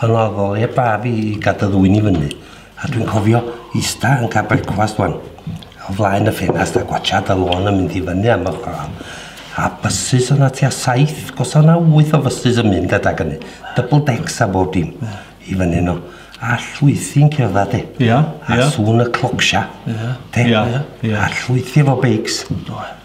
Ond oedd o le braf i gadw ddwy'n i fyny. A dwi'n cofio ista yn cael brecwast wan, o flaen y ffenast a gwachad y lôn yn mynd i fyny am y chwaral. A bysus o'na tua saith, gosa o'na wyth o fysus yn mynd adag hynny. Double decks a bob dim. Mm. I fyny no. A llwythi'n cerdded de. Ia, ia. A sŵn y clocsia. Ia. De? Ia, ia. A llwythi efo beics. Do.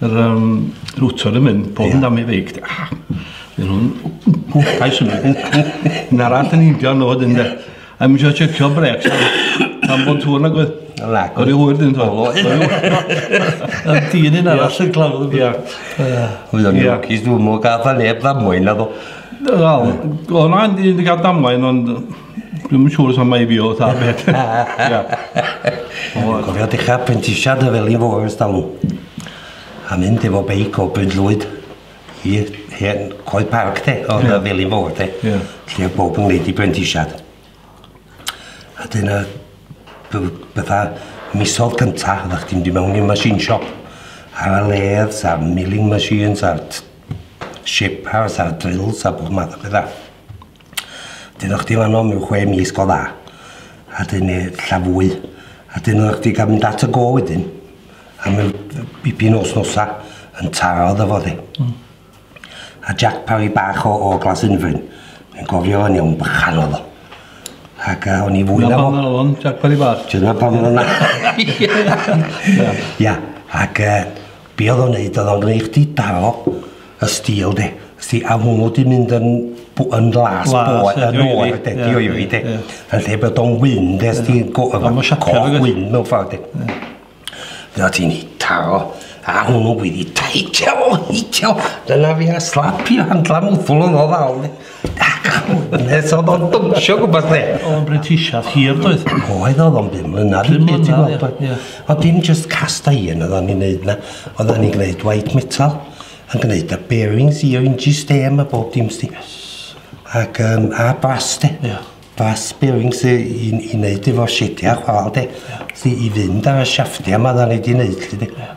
Yr um, rwtor yn mynd, pob yn dam ei feic. Ah, Dyn nhw'n hwcais yn mynd. Na rat yn indio nhw dyn de. A mi eisiau checio brecs. Am bod tŵr nag oedd. Nag oedd. O'r hwyr dyn nhw. O'r hwyr. Yn dyn yn arall yn clafod. Ia. Oedd o'n lwcus dwi'n mwyn gael neb ddamwain na ddo. Wel, o'n o'n i'n gael damwain ond Dwi'n yn siŵr os am ei fi o ta beth. Dwi'n cofio dechrau prentisiad y felin fo ers talw. A mynd efo beic o Bryn Llwyd i hen Coed Parc te, o yeah. felin fo te. Yeah. Lle oedd bob yn gwneud i brentisiad. A dyna bydda misodd cynta, oeddech chdi'n mynd i mewn i'r machine shop. Ar y ledd, sa'r milling machines, a'r shapers, a'r drills, a bob math o bethau. Dyna chdi fan 'no mewn chwe mis go dda. A 'dyn ne' ella fwy. A 'dyn oddach chdi ga'l mynd at y gôl wedyn a mewn yy bipyn o wsnosa yn taro iddo fo de. Hmm. A Jack Parry bach o o Glasinfryn yn gofio fo'n iawn bychan o'dd o. Ac yy o'n i fwy na fo. Dyna pam o'dd o'n Jack Parry bach? Dyna pam o'dd o'n... Ia. Ia ac yy Be odd o'n neud odd o'n gneud chdi daro y steel de. Wsti a hwnnw di mynd yn bw- yn las boeth yn oer de di o'i fi de. Yn lle bod o'n wyn de sti go- efo coch wyn mewn ffor de. Fe o ti'n taro a hwnnw wedi taithio o hitio dyna fi a slapio handla mwthwl yn o ddal de. Nes oedd o'n dwnsio gwybod lle. O'n britisiad hir doedd. Oedd oedd o'n bum mlynedd. Bum mlynedd, ie. Oedd dim just cast iron oedd o'n i'n neud na. Oedd o'n i'n gwneud white metal. Yn gwneud y bearings i o'r inji stem a bob dim sti. Ac um, a bras de. Ie. Bras bearings i, i, i wneud efo sidiau chwal de. Ie. I fynd ar y siaftiau mae oedd o'n ei di wneud. Ie.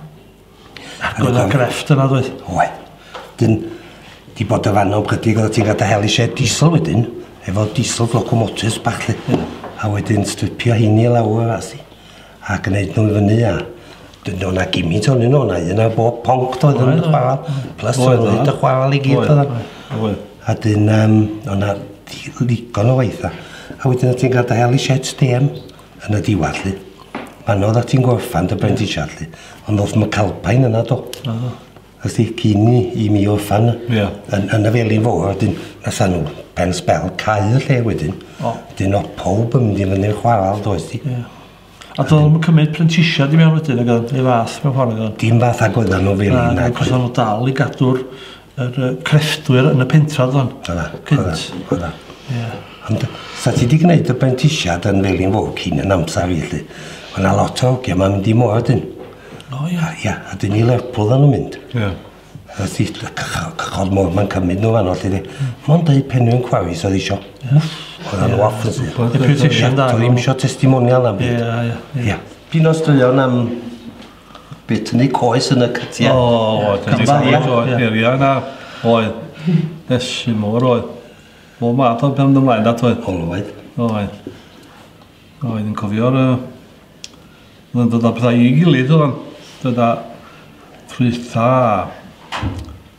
Ac oedd yna grefft yna ddoedd? Oedd. Dyn, di bod y fan o'n brydig oedd ti'n gada hel i shed diesel wedyn, efo diesel locomotives bach lly. Hmm. A wedyn stripio heini i lawr a si. A gwneud nhw'n fyny a... Dyn o'na gimint o'n un o'na, un ar bob ponc doedd yn y chwaral. Plus oedd oedd y chwaral i gyd oedd. Oedd. A dyn um, o'na ddigon o waith a. A wedyn oedd ti'n gada hel i shed stêm. Yn y diwadd, lly. Pan oedd ti'n gorffan dy brentisiad, lly. Ond oedd McAlpine yna, do. Oh. Ysdi, cyn i, i mi orffan yeah. yn, yn y felin fawr, wedyn, nes nhw pen spel cael y lle wedyn. Oh. Dyn o pob yn mynd i fyny'r chwaral, does di. Yeah. A dod yn cymryd prentisiad i mewn wedyn, neu fath mewn ffordd. Dim fath ag oedden nhw fel un. Ac oedden nhw dal i gadw'r Yr uh, crefftwyr yn y pentra oedd o'n? Oedd o'n, oedd o'n, oedd o'n. Ie. Ond sa ti wedi gwneud y bentisiad yn Felin Fawr cyn yn amser fi, lle. Mae yna lot o hogia mae'n mynd i moa dyn. O, ie. A, ia, a dyn ni Lerpwl yn mynd. Ie. A ti, cychod môr mae'n cymryd nhw fan o, lle. Hmm. Mae'n dweud penwyn cwawis oedd eisiau. Oedd o'n waff yn sy'n. Deputation da. Oedd ddim eisiau testimonial am byd. Ie, ie. Ie. Pyn o straeon am Be tynnu coes yn y cytiau. O, o, tynnu coes o heriau na. Oedd. Esu mor oedd. Bo ma ato pen ymlaen dat oedd. Olwyd. Oedd. Oedd yn cofio'r... Oedd yn dod â pethau i gilydd oedd. Dod â ffrwythau.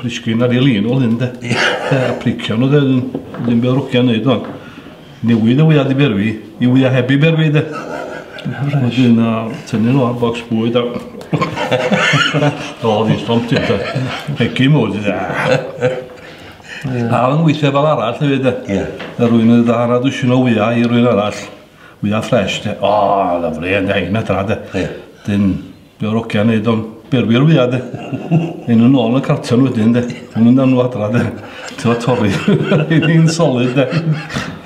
Plisgyn ar ei lin o lyn de. Ia. A pricio nhw de, ddim byd rwcia wneud o'n. Newid y wyad i berwi, i wyad heb i berwi de. Wedyn a tynnu nhw ar bocs bwyd a... o, fi stomp ti de. Hegi mwy ti de. A oedd yn weithio fel arall hefyd de. Ia. A rwy'n yn ddara dwysyn o wyau i rwy'n arall. Wyau ffres de. O, lyflu, yn da hyn a tra de. Ia. Dyn Be o'r ogia neud o'n berwyr fwya de. Yn nhw nôl yn y carton wedyn de. Yn mynd â nhw adra de. Ti'n fawr torri. Yn solid de.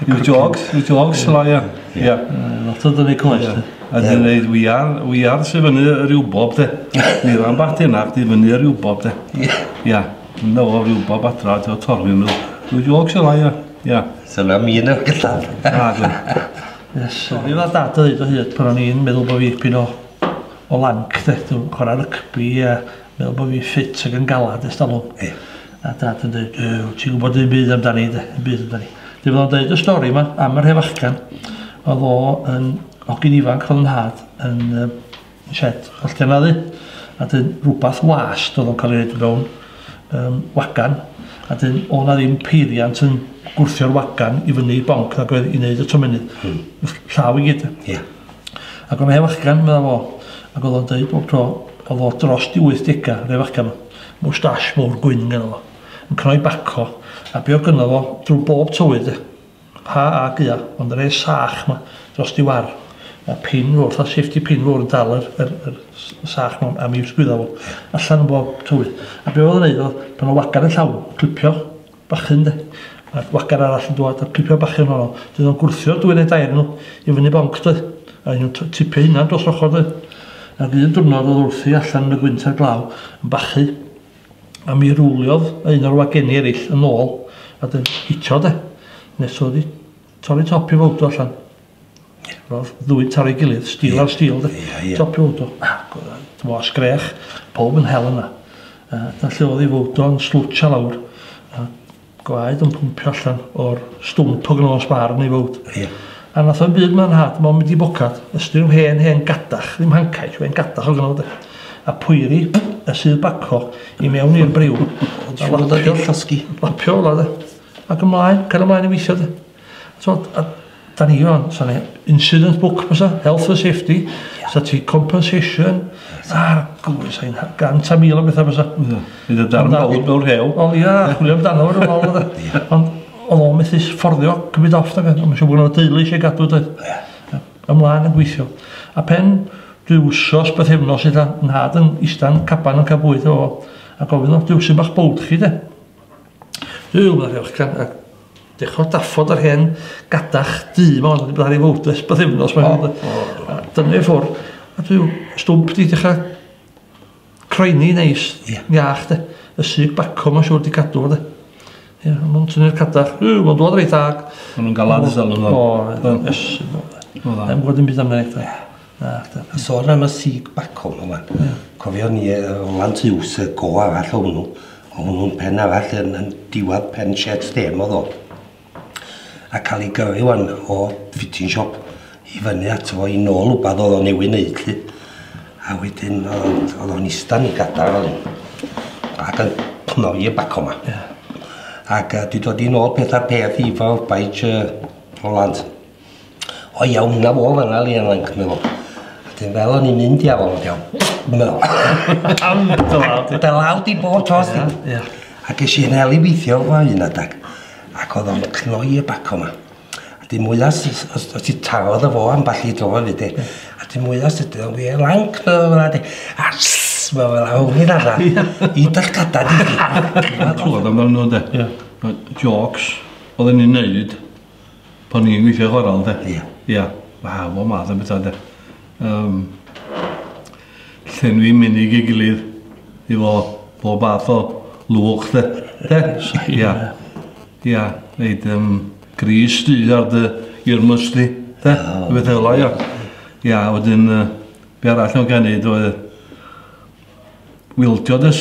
Yw jogs, yw jogs yla ia. Ia. Lot o dynu coes de. A dyn neud wiar, wiar sy'n fyny yr i'w bob de. Ni ran bach dyna, chdi fyny yr i'w bob de. Ia. Yn o ryw bob adra, ti'n fawr torri nhw. Yw jogs yla ia. Ia. Dyna mi yn y gyllaf. Ia. Sorry fa dad o ddweud o hyd pan o'n i'n meddwl bod fi pyn o o lanc de, dwi'n chwarae rygbi a meddwl bod fi'n ffit ac yn galad ers talwm. Ie. A dad yn dweud, yy, wyt ti'n gwybod un byd amdani de, un byd amdani. Dwi'n meddwl dweud y stori yma am yr hefachgan, oedd o yn hogyn ifanc oedd yn nhad yn yy, shed hollti anaddu, a dyn rhywbeth wast oedd o'n cael ei wneud mewn um, wagan, a dyn o'n na ddim peiriant yn gwrthio'r wagan i fyny i bonc nag oedd i wneud y tomenydd. Hmm. Llaw i gyd. Ie. Yeah. Ac oedd e fachgan, medda fo, ac oedd o'n dweud bob tro, oedd o dros di 80, fe fachgan o, mwstash mowr gwyn gynno fo, yn cnoi baco, a be o gynno fo drwy bob tywydd de. Ha a gua, ond yr e sach ma, dros di war, a pin fowr, fatha safety pin fowr yn dal yr, yr, yr sach ma am i sgwydda fo, allan yn bob tywydd. A be oedd o'n neud oedd, pan o wagar y llaw, clipio, bachyn de. A'r gwagar arall yn dwad a'r pipio bachyn honno. Dyn nhw'n gwrthio'r dwy neu dair nhw i fyny bonc de. A un nhw'n tipio hunan dros ochr de. Ac un diwrnod oedd wrthi allan yn y gwynt a'r glaw yn bachu. A mi rwliodd un o'r wageni erill yn ôl a dyn hitio de. Nes oedd hi torri top i fowdw allan. Ro'dd ddwy taro i gilydd, steel ar steel 'de? Ia ia. Top load o ac o'dd o'n t'mo' sgrech powb yn hel yna. Yy a lle o'dd 'i fowd o'n slwtsio lawr a gwaed yn pwmpio allan o'r stwmp o gnos bar yn ei fowd. Ia. A nath o'm byd ma'n nhad mond mynd i bocad, ystyr yw hen hen gadach, ddim hancaish, hen gadach o' gynno fo 'de? A poeri y sudd baco i mewn i'r briw. Llosgi. Lapio fel 'a 'de? Ac ymlaen, cario mlaen i weithio de? T'od a 'dan ni rŵan sa 'ne incident book bysa health and safety sa ti compensation a'r gŵr sa hi'n gant a mil o betha bysa. Ia. Bydd y darn fawr mewn rhew. Wel ia chwilio amdano fo rwbath o'dd e. Ond o'dd o'n methu fforddio cymyd off nag oedd ond ma' siŵr bo' gynno fo deulu isie gadw doedd? Ia. Ia. Ymlan yn gweithio. A pen dwi wsos bythefnos ella nhad yn ista'n caban yn ca'l bwyd efo fo a gofyn o Duw su' ma'ch bywyd chi de? Duw, meddai Rhychgan, a dechrau daffod yr hen gadach du ma, ond wedi bod ar ei fwyd ers bythefnos. O, o, o. Dyna ei ffwrdd. A dwi'n stwmp di dechrau croeni neis, yeah. iach, de. Y syg baco mae'n siŵr di cadw, de. Ie, mae'n tynnu'r cadach. Yw, mae'n dod reit ag. Mae'n nhw'n galad ysdal yn ôl. O, ys. Mae'n gwybod yn byd amdano. Na, da. A sôn am y Sieg Bacwn yma. Yeah. Cofio ni uh, Roland Hughes, y go arall o hwnnw. O hwnnw'n pen arall yn, yn diwad pen shed stem o ddo. A cael ei gyrru wan o fitting shop i fyny ato fo i nôl wbad oedd o newydd wneud lli. A wedyn oedd o'n istan i gadar fel un. Ac yn cnoi y bac o'ma. Yeah. Ac uh, di dod i nôl peth ar peth i fel baich uh, Roland. O iawn, na fo fanna li yn lanc meddwl. Wedyn fel o'n i'n mynd i afon o'n iawn. Meddwl. Am dy law di. Dy law di bob tos di. Ie, ie. A ges i hel i weithio fo un adag. Ac oedd o'n cnoi y baco ma. A di mwyas, os, os ti tarodd y fo am ball i dro fi di. A di mwyas ydy o'n wir lanc na fo di. A sss, mae fel awn i'n arna. I dall gada di. Mae'n clywed amdano nhw de. Ie. Jokes, oedd yn ei wneud. Pan ni'n gweithio chwarae de? Ia. Ia. Waw, bob math o bethau de. Um, llenwi menig ei gilydd i fo bob math o lwch de. De? Ia. Ia. Neud um, gris du ar dy irmys di. De? Ia. Beth fel ia. Ia, wedyn, uh, be arall o'n cael neud oedd wildio dys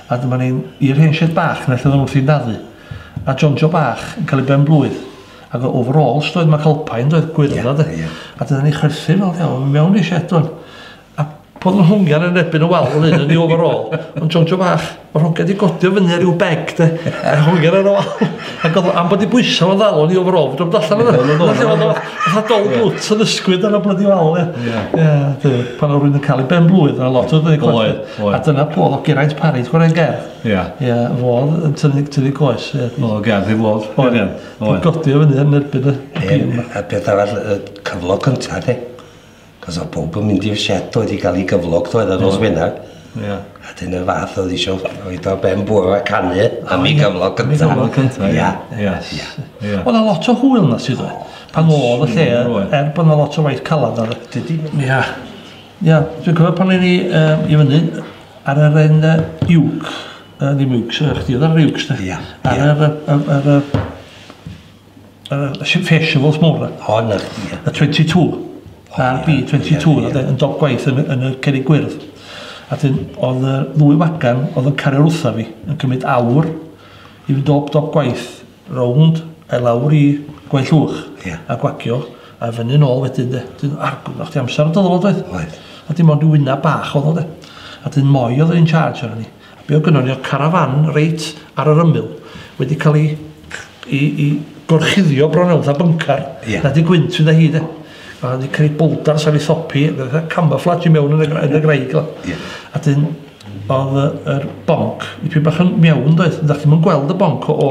A dyma ni'n i'r hen shed bach 'na lle oedden nhw'n wrthi'n dafu. A John Joe bach yn cael ei ben-blwydd. Ac oedd overalls doedd, Mac Alpine doedd, gwyrdd-dda de. Ie, ie. A dyna ni chwerthin fel rhewl i mewn i'r shed doedd. A pan oedd hongian yn erbyn y wal fel hyn yn ei overall, ond John Joe bach, oedd hongian 'di godi o fyny ar ryw beg de, a hongian ar y wal. Ac oedd o, am bod 'i bwysa fo'n ddal o'n i overall, fedrwch chi'm dallan o fe. Dyna lle oedd o, fatha dol bwt yn ysgwyd ar y blydi wal ie. Ie. Ie, duw, pan oedd rywun yn cael ei ben-blwydd, oedd 'na lot o... Oedd. Oedd. A dyna fo, oedd Geraint Parry, ti'n cofio'r hen gerdd? Ia. Ia, fo oedd yn tynnu, tynnu coes. Ia. Oedd o'n gerdd i fod. Oedd. Ia. Oedd. Godio fyny yn erbyn y... Dim, a beth arall, y cyflog cyntaf, de. Cos oedd bob yn mynd i'r set oedd i gael ei gyflog, oedd yn nos Wener. Ia. A dyn y fath oedd eisiau oed o'r ben bwrw a canu am ei gyflog cyntaf. Am ei gyflog cyntaf, ia. Ia. Ia. Oedd a lot o hwyl na sydd oedd. Pan oedd y lle, er bod na lot o waith calad na. Dydy. Ia. Ia, dwi'n cofio pan o'n i yy i fyny ar yr en yy uwc, yy ddim uwcs, yy chdi o'dd ar yr uwcs 'de? Ia, ia. Ar yr yy yym yr yy yr yy sh- festival mowr 'na. O 'na chdi ia. Y twenty two. Ar Bee twenty two o'dd e yn dop gwaith yn y yn y cerrig gwyrdd. A 'dyn o'dd yy ddwy fagan o'dd yn cario rwtha fi yn cymyd awr i fynd dop dop gwaith. rownd a'i lawr i Gwaun Llwch. Ia. A gwagio a fyny nôl wedyn 'de. 'Dyn argwyddo chdi amser o'dd o doedd? Oedd. A dim ond ryw wynab bach o'dd o 'de. A 'dyn Moy o'dd in charge arnon ni. A be' o'dd gynnon ni o'dd carafan reit ar yr ymyl wedi ca'l 'i c- 'i 'i gorchuddio bron iawn fatha byncar. Ia. Na dy gwynt fydda hi 'de. A o'dd 'di creu bowldars ar 'i thop hi, fatha camoflage i mewn yn y gra- yn y graig fel 'a. Ia. A 'dyn Oedd y, yr bonc dipyn bach yn miawn doedd? Dach chi'm yn gweld y bonc o,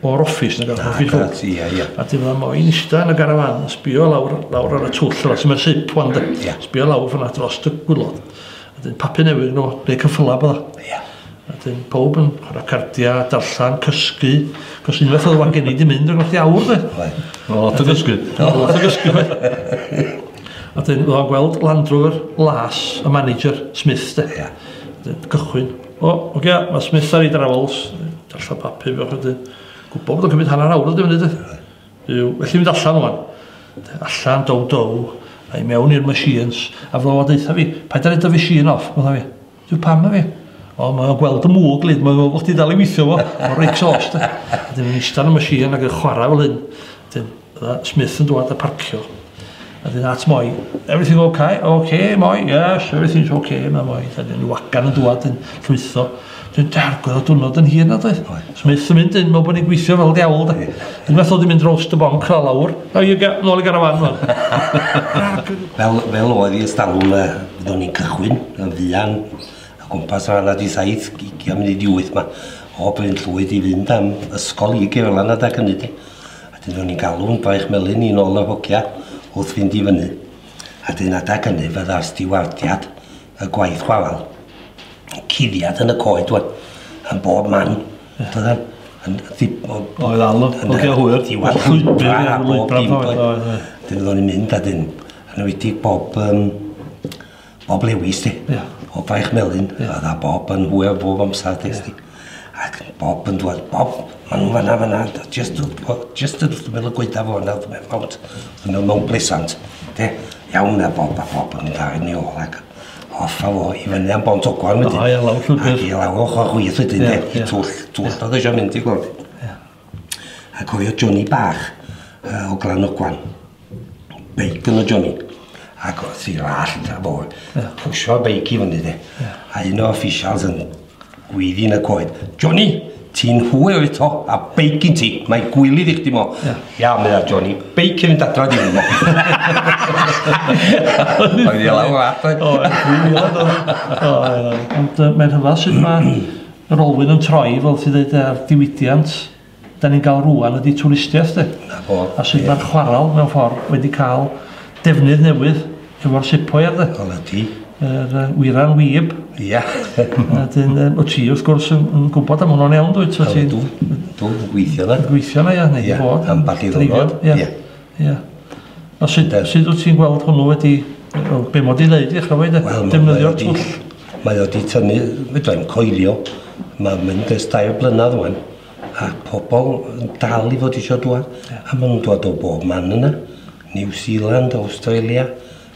o'r office nag Na, gret, ia, ia. A dim ond moyn ista yn y garafan, yn sbio lawr, lawr ar y twll yma, sy'n mynd sip wan de. Ia. Sbio lawr fyna dros y gwylod. A dyn papu newydd nhw, neu cyffyla bod o. Ia. A dyn pob yn chwarae cardia, darllen, cysgu, cos unwaith oedd o'n gen i di mynd yn gwrth i awr de. Oedd. Oedd o gysgu. Oedd o gysgu. A wedyn o'dd o'n gweld Land Rover las y manager, Smith 'de. Ia. Wedyn cychwyn. O, ogia, ma' Smith ar ei drawls, darllen papur bach wedyn. Gwbo bod o'n cymryd hanner awr ydi fyny de. Yw, felly mynd allan ŵan. Allan, dow dow, a'i mewn i'r machines, a fo a deutha fi, paid â roid dy fishîn off, medda fi. Dwi pam na fi? O, mae o'n gweld y mwg, lyd, mae'n meddwl bod chdi dal i weithio fo, o'r rei exhaust. Dyn nhw'n eistedd yn y machine ac yn chwarae fel hyn. Dyn, Smith yn dwad a parcio. A dyn at moi, everything okay? Okay, moi, yes, everything's okay, mae moi. Dyn nhw'n wagan yn dwad, dyn llwytho. Dyn dargoedd o dwrnod yn hir nad oedd? So mae eitha mynd yn meddwl bod ni'n gweithio fel diawl da. Unwaith oedd hi'n mynd roast y bonc a lawr. A i ga- nôl i garafan rwan. fel, fel oedd i ystalwm y fyddwn ni'n cychwyn yn fuan a gwmpas rhan a di saith gigia mynd i di wyth ma. O Bryn Llwyd i fynd am ysgol i Gerlan a da gynnu di. A dyn nhw'n ni'n galw'n braich melyn i'n ôl yr hogia wrth fynd i fyny. A dyn a da gynnu fydda'r stiwardiad y gwaith chwalan. Cuddiad yn y coed, dwi'n. Yn bob man. Dwi'n. Yn Oedd alw, ogia hwyr. Diwad llwybr a bob dim. Dyn oedden ni'n mynd a dyn. Yn wedi bob... Um, bob lewis di. Yeah. O braich melyn. Yeah. A dda bob yn hwyr bob amser. Yeah. Ac Bob yn dwad, Bob, ma' nhw fanna, fanna, just wrth y gw- just wrth ymyl y gwaetha fo yna, wrth Mount, wrth ymyl Mount Pleasant, de? Iawn na Bob, a Bob yn mynd â i ni ôl ac off a fo i fyny am Bont Ogwen wedyn. O ia, lawr llwybr. Ac i lawr ochr chwith wedyn de, i twll, twll oedd o isio mynd, ti'n gwybod. Ia. A cofio Johnny bach uh, o Glanogwan. Beic yn o Johnny. Ac oedd i rallt a bod. Yeah. Pwysio beic i fyny de. Yeah. A un o officials yn gwyddin y coed. Johnny, ti'n hwyr eto, a beic yn ti, mae gwylydd i chdi mo. Ia, yeah. meddwl Johnny, beic yn mynd adra di mo. Oedd i lawr at. O, oedd. Ond mae'n hyfal sydd mae Yr olwyn yn troi fel ti'n dweud a'r diwydiant dan ni'n gael rŵan ydy twristiaeth de? 'Na fo. A sut ma'r chwarel mewn ffordd wedi cael defnydd newydd efo'r sepoier de? Wel ydi. Yr yy wyra'n wib. Ia. A 'dyn yym wt ti wrth gwrs yn yn gwbod am hwnnw'n iawn dwyt? Wt ti'n... Ydw. Dwi'n gweithio 'na. Yn gweithio 'na ia neu 'di bod. Ia ambell i ddiwrnod. Ia. Ia. A sut de, sut wyt ti'n gweld hwnnw wedi... wel, be' mod i'n neud i ch'mod de? Wel, defnyddio'r twll. Mae o 'di tynnu, fedra i'm coelio, mae'n mynd ers dair blynedd ŵan, a pobl yn dal i fod eisiau dŵad, a maen nhw'n dŵad o bob man yna, New Zealand, Australia,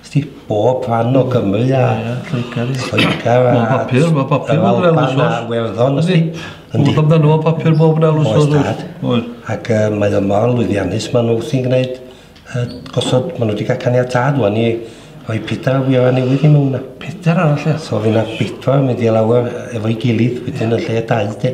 Sti bob fan o Gymru a... Ie, Lloegr. Lloegr a... Mae papur, mae papur bob yn elws oes. Yr Werddon, yndi. Yndi. Wrth amdano fo papur bob yn elws oes. Oes, dad. Oes. Ac uh, mae o mor lwyddiannus, maen nhw wrthi'n gwneud uh, gosod, maen nhw wedi cael caniatad wan i rhoi pedair o fioau newydd i mewn na. Pedair arall, ie. So fyna bedwar yn mynd i lawr efo'i gilydd, wedyn yn lle dau, de.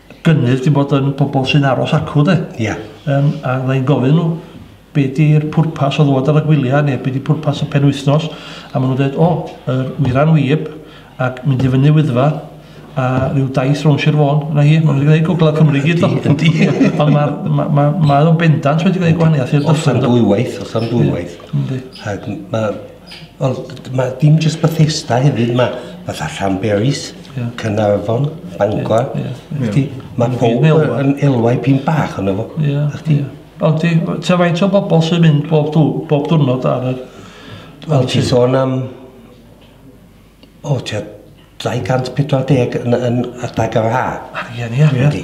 gynnydd dim bod yn pobl sy'n aros acw de. Ia. Yym a fydda i'n gofyn nhw be 'di'r pwrpas o ddod ar y gwyliau neu be 'di pwrpas y penwythnos a maen nhw'n dweud o yr wyra'n wib ac mynd i fyny Wyddfa a rhyw daith rownd Sir Fôn, 'na hi, maen nhw 'di gwneud Gogledd Cymru i gyd do. Yndi, yndi. Ond ma' ma' ma' mae o'n bendant wedi gwneud gwahaniaeth i'r dyffryn do? Os am ddwywaith, os am ddwywaith. Yndi. Ac ma' Ond d- d- ma' dim jyst Bethesda hefyd ma' fatha Llanberis... Ie. ...Caernarfon, Bangor. Ie ie ie. Wsti ma' powb yy yn elwa ipyn bach onno fo. Ie. Nachdi? Ie. Ond ti w- ta faint o bobol sy'n mynd bob dw- bob dwrnod ar y... Wel ti sôn am O, tua 240 yn, yn adeg yr ha. Arian, ia. Dwi'n di.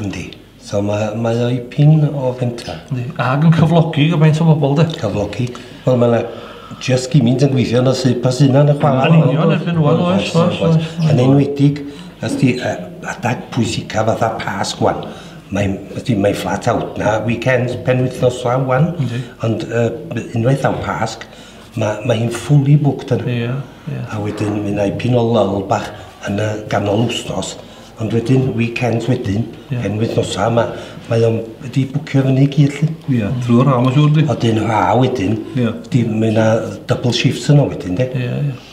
Yndi. So mae, mae o'i pin o fentra. Yndi. Ag yn cyflogi gymaint o bobl, de. Cyflogi. Wel, mae yna just gymint yn gweithio na sy'n pas yna yn y chwarae. Yn union, erbyn nhw'n oes, oes, oes. Yn enwedig, ys di adag pwysica fatha pas gwan. Mae, ydy, mae flat out na, weekends, penwythnos law wan. Yndi. Ond uh, unwaith am Pasg, Mae, mae hi'n fully booked yna. Ie, ie. A wedyn mi wna i pin o lol bach yn y ganol wsnos, ond wedyn weekends wedyn, yeah. yn wythnosau, mae, mae o'n wedi bwcio fyny i gyd lly. Ie, yeah, drwy'r rhaw mae'n siŵr di. Oedyn rhaw wedyn, yeah. di, mae yna double shifts yna wedyn de. Ie, yeah, ie. Yeah.